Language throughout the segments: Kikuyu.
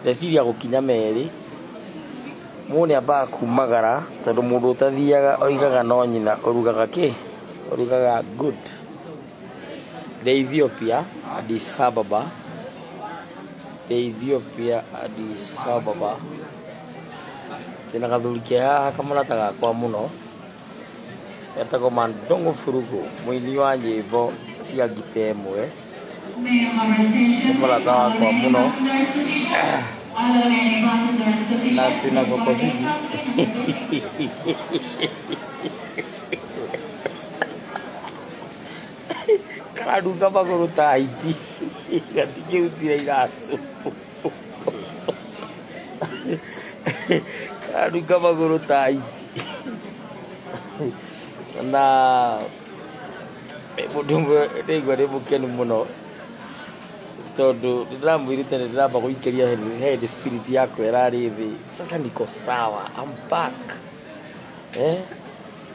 Ndeciria gũkinya merĩ, mũndũ nĩ ambaga kumagara tondũ mũndũ ũtathiaga oigaga no nyina ũrugaga kĩ? Ũrugaga good. Ndĩ Ethiopia, Addis Ababa. Ndĩ Ethiopia, Addis Ababa. Ndĩna gathuri ke haha kamũrata gakwa mũno. Etagwo Mandongo Furugu, mũini wa nyĩmbo cia ngita ĩmwe. Nĩ mũrata wakwa mũno na twĩna thoko hihi. Karanunga magũrũ ta hiti gatikĩrutire iratũ. karuga magũrũ tai na mũndũ ũmwe ndĩigua ndĩ mũkenu mũno tondũ ndĩramwĩrĩte nĩ ndĩramba gũikĩria head spirit yakwa ĩrarĩ thĩ sasa niko sawa I'm back eh?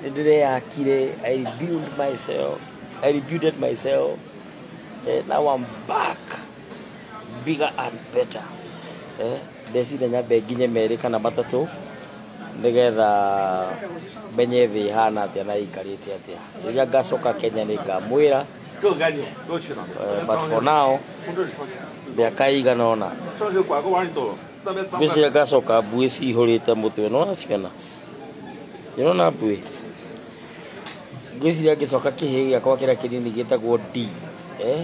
nĩ ndĩreyakire I rebuild myself I rebuilded myself eh, now I'm back bigger and better eh, ndecire nyambe nginye merĩ kana matatũ nĩgetha menye thĩ ihana atĩa na ĩikarĩte atĩa rĩrĩa ngacoka kenya nĩ ngamwĩra eh, but for now mĩaka ĩigana ona ngwĩciria ngacoka mbuĩ cihũrĩte mũtwe no naciona ndĩrona mbuĩ ngwĩciria ngĩcoka kĩhĩ gĩakwa kĩrĩa kĩnini gĩtagwo d eh,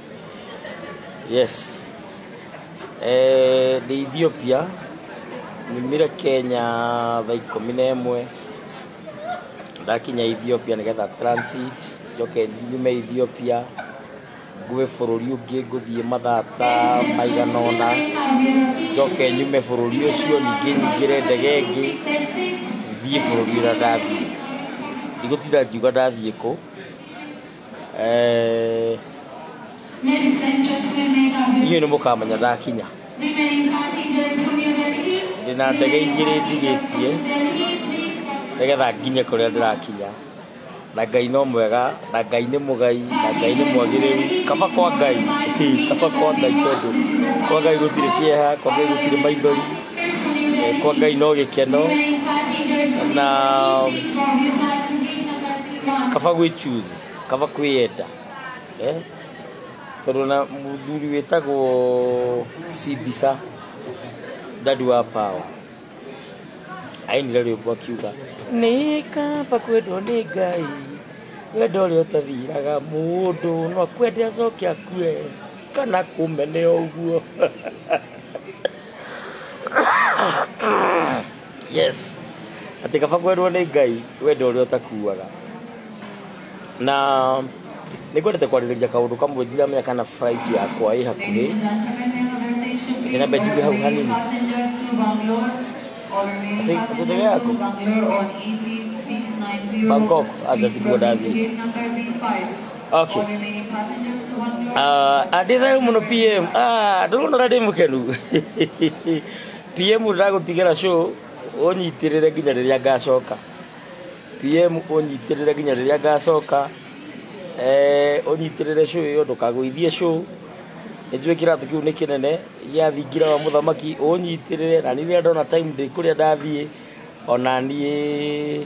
Yes. Eh, nĩ Ethiopia nyumire Kenya thaa ikũmi na ĩmwe ndakinya Ethiopia nĩgetha transit njoke nyume Ethiopia ngũe bũrũri ũngĩ ngũthiĩ mathaa ta maigana ũna njoke nyume bũrũri ũcio ningĩ nyingĩre ndege ĩngĩ thiĩ bũrũri ũrĩa ndathiĩ ndigũtinda ngiuga ndathiĩ kũ Eh, Ladies and gentlemen, may I have your inyuĩ nĩ mũkamenya ndakinya remaining cars in the Antonio Delhi? ndĩ na ndege igĩrĩ ndigĩtie Delhi, please. nĩgetha nginye kũrĩa ndĩrakinya na ngai no mwega na ngai nĩ mũgai na ngai nĩ mwagĩrĩru kaba kwa ngai Hii, kaba kwa ngai tondũ kwa ngai gũtirĩ kĩeha kwa ngai gũtirĩ maithori Eh, kwa ngai no gĩkeno Remaining cars in the Antonio Na- Delhi, please. From your cars, please. kaba gwĩ choose kaba kwĩyenda eh? tondå na mũthuri wĩtagwo cibisa dadi wa pawa ainire rwĩmbo akiuga nĩ kaba kwendwo nĩ ngai wenda ũrĩa ũtathiraga mũndũ no akwende acoke akue kana kũmene ũguo Yes. Atĩ kaba kwendwo nĩ Ngai wenda ũrĩa ũtakuaga. Na nĩ kwendete kwarĩrĩria kaũndũ kamwe ndiramenya kana flight yakwa ĩ hakuhĩ. Nĩ namba njigũ hau hanini. Atĩ ndege yaku? Bangkok, acha sikuwa ndathi. Okay. Ah, andä thayo må no PM. Ah, ndå rona å rä a ndä må kenu. PM ndagũtigĩra show ũnyitĩrĩre nginya rĩrĩa ngacoka PM ũnyitĩrĩre nginya rĩrĩa ngacoka eh, ũnyitĩrĩre show ĩyo ndũkagũithie show nĩnjũĩ kĩratũ kĩu nĩ kĩnene gĩa thingira wa mũthamaki ũnyitĩrĩre na niĩ rĩrĩa ndona time ndĩ kũrĩa ndathiĩ ona niĩ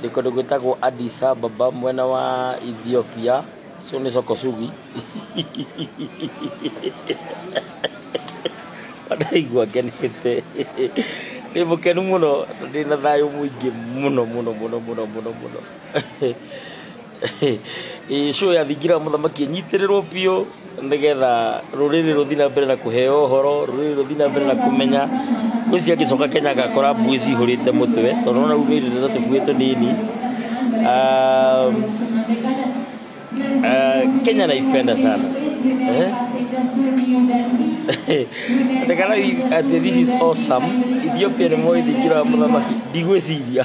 nĩ kũndũ gwĩtagwo Addis Ababa mwena wa Ethiopia so nĩ Sokosugi ndaigua ngenete ndĩ mũkenu mũno ndĩ na thayũ mũingĩ mũno mũno mũno mũno mũno mũno ĩĩ show ya thingira wa mũthamaki ĩnyitĩrĩrwo biũ nĩgetha rũrĩrĩ rũthiĩ na mbere na kũheo ũhoro rũrĩrĩ rũthiĩ na mbere na kũmenya ngwĩci angĩcoka kenya agakora mbuĩ cihũrĩte mũtwe tondũ ona rĩu nĩ rĩrĩ na tũbuĩ tũnini Um, ah, kenya naipenda sana eh? ndekana ati this is awesome ethiopia nĩ moĩ thingira wa mũthamaki ndigwĩciria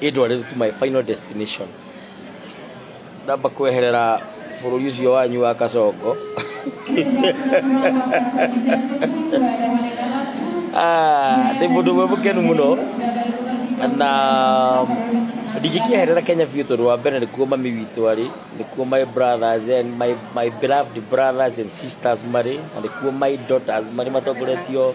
Indwarĩte to my final destination. Ndamba kweherera bũrũri ũcio wanyu wa Kacongo. Ah, Ndĩ mũndũ ũmwe mũkenu mũno na ndingĩkĩeherera Kenya biũ tondũ wa mbere nĩkuo mami witũ arĩ, nĩkuo my brothers and my, my beloved brothers and sisters marĩ, na nĩkuo my daughters marĩ matongoretio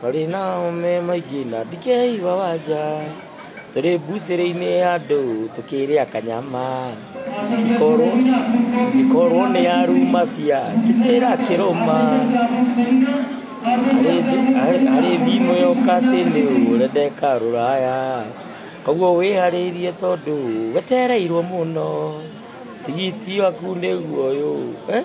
Tũrĩ nao me maingĩ na ndikei wawanja tũrĩ mbucĩrĩ-inĩ ya andũ tũkĩrĩa kanyama korwo ikorwo nĩ aruma cia kĩbĩra kĩrũma harĩ thimũ yoka atĩ nĩ ũrendeka rũraya koguo wĩharĩirie tondũ wetereirwo mũno tigiti waku nĩguo ũyũ eh?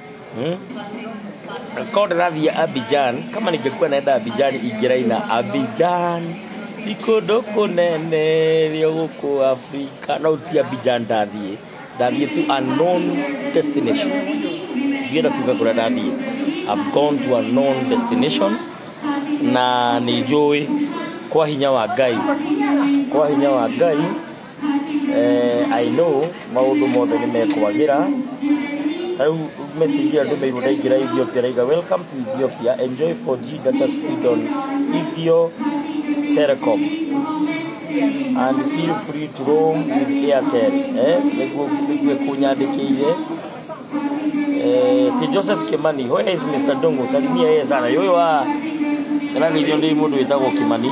Hmm? Kama ndĩrathiĩ Abidjan, kama ningekuwa naenda Abidjan ingĩraina Abidjan ni kũndũ kũnene rĩo gũkũ Afrika no ti Abidjan ndathiĩ ndathiĩ to a known destination ndienda kuga kũrĩa ndathiĩ I've gone to a known destination na nĩ njũĩ kwa hinya wa Ngai kwa hinya wa Ngai eh, I know maundu mothe nĩ mekwagĩra rĩu message ĩyo ndũmĩirwo ndaingĩra Ethiopia raiga welcome to Ethiopia enjoy 4G data speed on Ethio Telecom and feel free to roam with Airtel eh nĩguo nĩguo kũnyandĩkĩire eh ti Joseph Kimani where is Mr Dongo salimia yeye sana yoyo wa Ndaragithio ndĩ mũndũ wĩtagwo Kimani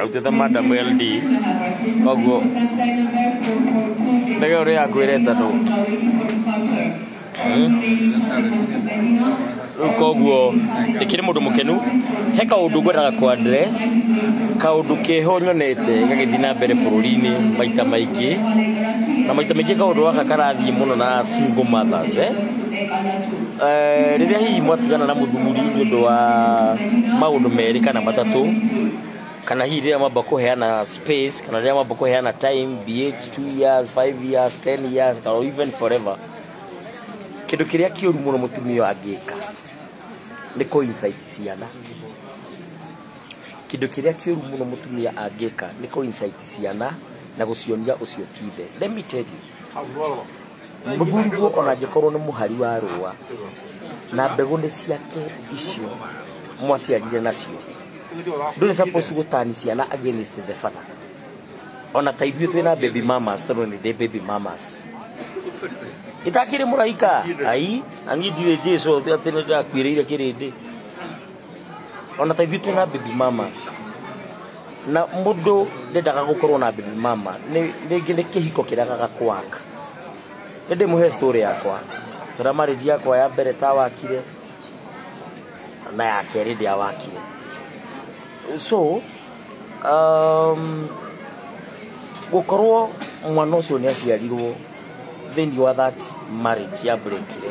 autĩte madam ld koguo ndege ũrĩa yakwĩre tandũ rĩu koguo ndĩkĩrĩ mũndũ mũkenu he kaũndũ ngwendaga kwa address kaũndũ keho nyonete gagĩthiĩ na mbere bũrũri-inĩ maita maingĩ na maita maingĩ kaũndũ gaka karathiĩ mũno na single mothers eh? Eh, rĩrĩa hihi mwatigana na mũthuri nĩ ũndũ wa maũndũ merĩ kana matatũ kana hihi rĩrĩa mwamba kũheana space kana rĩrĩa mwamba kũheana time be it two years five years ten years kana even forever kĩndũ kĩrĩa kĩũru mũno mũtumia angĩka nĩ kũ incite ciana kĩndũ kĩrĩa kĩũru mũno mũtumia angĩka nĩ kũ incite ciana na gũcionia ũcio ti ithe let me tell you Mũthuri guo ona angĩkorwo nĩ mũhari wa rũũa, na mbegũ nĩ ciake icio mwaciarire nacio. Ndũrĩ supposed to gũtani ciana against the father. Ona ta ithuĩ twĩna baby mamas tondũ nĩ ndĩ baby mamas. Itakĩrĩ mũraika, ai, na niĩ ndirĩ Jesu atĩ nĩ ndakuĩrĩire kĩrĩndĩ. o na ta ithuĩ twĩna baby mamas na mũndũ ndendaga gũkorwo na baby mama nĩ rĩngĩ nĩ kĩhiko kĩragaga kwaka nĩ ndĩmũhe story yakwa tondũ marriage yakwa ya mbere tawakire na ya kerĩ ndiawakire so um, gũkorwo mwana ũcio nĩ aciarirwo thĩinĩ wa that marriage ya breakire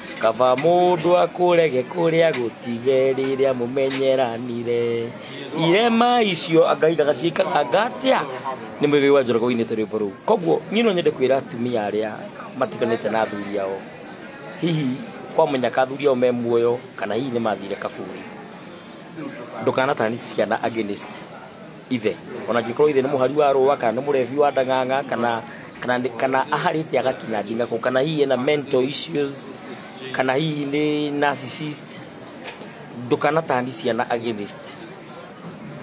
Kaba mũndũ akũrege kũrĩa gũtige rĩrĩa mũmenyeranire irema icio ngai ndagaciĩkaganga atĩa nĩ mwĩgĩ wa njorogo-inĩ ta rwĩmbo rũu koguo niĩ no nyende kwĩra atumia arĩa matiganĩte na athuri ao hihi kwa mũnyaka athuri ao me muoyo kana hihi nĩ mathire kaburi ndũkanatani ciana against ithe ona angĩkorwo ithe nĩ mũhari wa rũa kana nĩ mũrebi wa ndang'ang'a kana kana nĩ- kana aharĩte agakinya ndingakũ kana hihi ena mental issues kana hihi nĩ narcissist ndũkanatani ciana against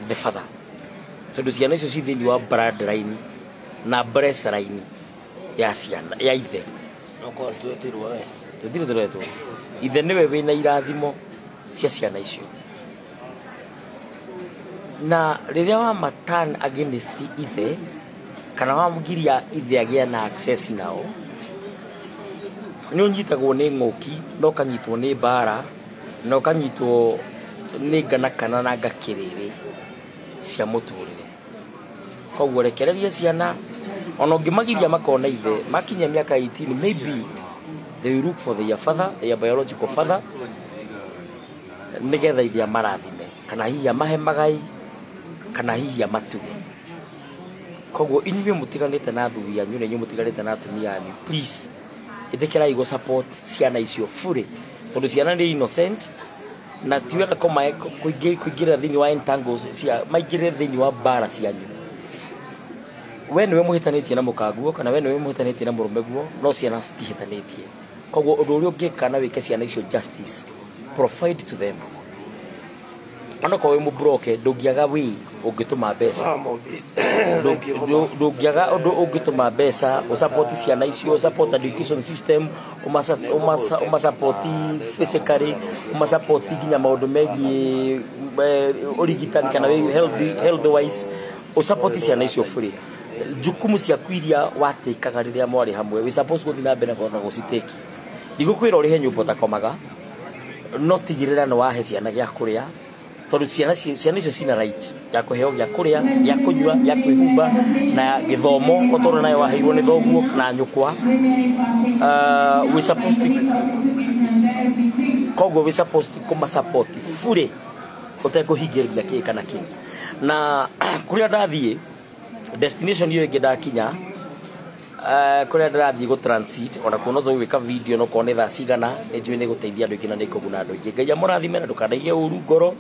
the father tondũ ciana icio ci thĩinĩ wa bloodline na bresaline ya ciana ya ithe Okorwo twetirwo we. tũtirĩ tũretwo ithe nĩwe wĩna irathimo cia ciana icio na rĩrĩa wa matan against ithe kana wamgiria ithe agĩa na access nao nĩ ũnyitagwo nĩ ng'ũki na ũkanyitwo nĩ mbara na ũkanyitwo nĩ ngana kana na ngakĩrĩrĩ cia mũtũrĩre koguo rekereria ciana ona ũngĩmagiria makona ithe makinya mĩaka 18 maybe they will look for their father their biological father nĩgetha ithe amarathime kana hihi amahe magai kana hihi amatuge koguo inyuĩ mũtiganĩte na athuri anyu na inyuĩ mũtiganĩte na atumia anyu please ĩtĩkĩrai gũ support ciana icio bure tondũ ciana nĩ innocent na ti wega kũmae- kũingĩ- kũingĩrĩra thĩinĩ wa entangles cia maingĩrĩre thĩinĩ wa mbara cianyu we nĩwe mũhĩtanĩtie na mũkaguo kana we nĩwe mũhĩtanĩtie na mũrũme guo no ciana citihĩtanĩtie koguo ũndũ ũrĩa ũngĩka na wĩke ciana icio justice provide to them onokorwo wĩ mũbroke ndũngĩaga wĩ ũngĩtũma mbeca ndũngĩaga ũndũ ũngĩtũma mbeca ũsapoti ciana icio ũsapoti education system ũmasapoti physically ũmasapoti nginya maũndũ megiĩ eh, ũrigitani kana wĩ healthy- health wise ũsapoti ciana icio bũrĩ njukumu ciaku iria watĩkaga rĩrĩa mwarĩ hamwe we suppose gũthiĩ na mbere na gũcitĩki ndigũkwĩra ũrĩhe nyũmba ũtakomaga no tigĩrĩra nĩ wahe ciana gĩa kũrĩa tondũ ciana ci- ciana icio cina right ya kũheo gĩa kũrĩa gĩa kũnyua gĩa kwĩhumba na gĩthomo ũtũra nayo waheirwo nĩ thoguo na nyũkwa Ah, we suppose to koguo we suppose to kũma support fully ũtekũhingĩrĩria kĩĩ kana kĩĩ na kũrĩa ndathiĩ destination hiyo ĩngĩ ndakinya eh, kũrĩa ndĩrathiĩ gũ transit ona kuo no tũgwĩka video no kuo nĩ thaa cigana nĩ njũĩ nĩ gũteithia andũ aingĩ na nĩ kũguna andũ aingĩ ngai amũrathime na ndũkandaige ũru ngoro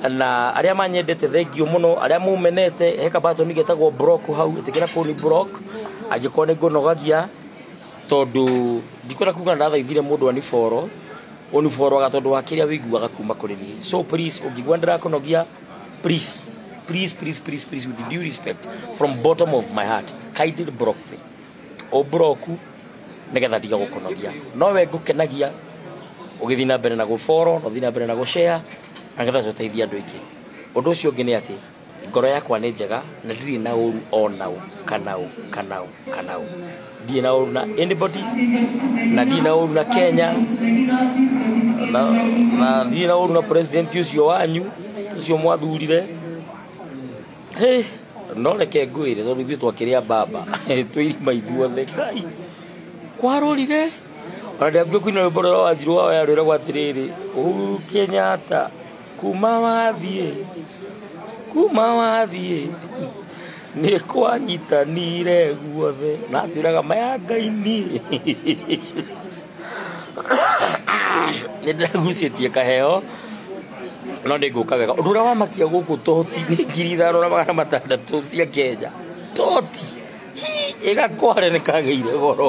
na arĩa manyendete thengiũ mũno arĩa mũmenete he kabatoni getagwo block hau ĩtĩkĩra kũu nĩ block angĩkorwo nĩ ngũnogagia tondũ ndikwenda kuga ndathaithire mũndũ aniboro ũniboro aga tondũ wa kĩrĩa wĩiguaga kuma kũrĩ niĩ so please ũngĩigua ndĩrakũnogia Please, please, please, please, please, with due respect, from bottom of my heart, kindly block me. O broku, nigetha ndiga gukunogia. No we ngukenagia, ũgĩthiĩ na mbere na gũboro, na ũthiĩ na mbere na gũshare, na ngetha tũteithie andũ aingĩ. Ũndũ ũcio ũngĩ nĩ atĩ, ngoro yakwa nĩ njega, na ndirĩ na ũru o na ũ, kana ũ, kana ũ. kana ũ ndirĩ na ũru na anybody na ndirĩ na ũru na kenya na na ndirĩ na ũru na president ũcio wanyu ũcio mwathurire Hey, no reke ngwĩre tondũ ithuĩ twakĩrĩa mbamba twĩ irima ithuothe kai kwarũrire ona ndĩambire kũina rwĩmbo rũrĩa wanjirwo wa yarwĩragwo atĩrĩrĩ ũhuru kenyatta kuma wathiĩ kuma wathiĩ nĩ kwanyitanire guothe na twĩraga maya ngaini nĩ ndĩragucĩtie kaheo no nĩ ngũka wega ũndũ ũrĩa wamakia gũkũ toti nĩ ngiri ithano na magana matandatũ cia kenya toti Hii, ĩgakware nĩ kagĩire goro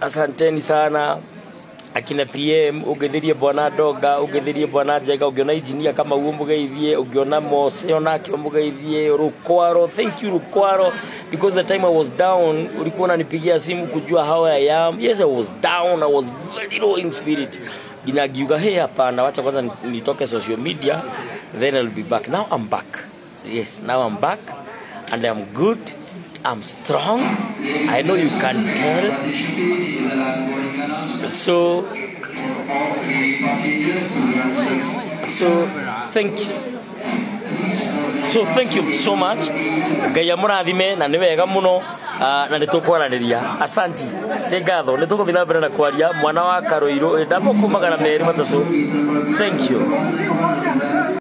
asanteni sana akina pm ũngĩthirie bwana ndonga ũngĩthirie bwana njega ũngĩona injinia kama guo mũgeithie ũngĩona mose onake mũgeithie rukwaro thank you rukwaro because the time i was down ulikuwa unanipigia simu kujua how i am yes i was down i was very low in spirit nginya ngiuga hey hapana wacha kwanza nitoke social media then i'll be back now i'm back Yes, now I'm back and I'm good. I'm strong. I know you can tell. So, so thank you. So thank you so much. Ngai amũrathime na nĩ wega mũno ah, na nĩ tũkwaranĩria. Asanti. Nĩ ngatho. Nĩ tũgũthiĩ na mbere na kwaria mwana wa Karũirũ. Ndamũkũmagana merĩ matatũ. Thank you.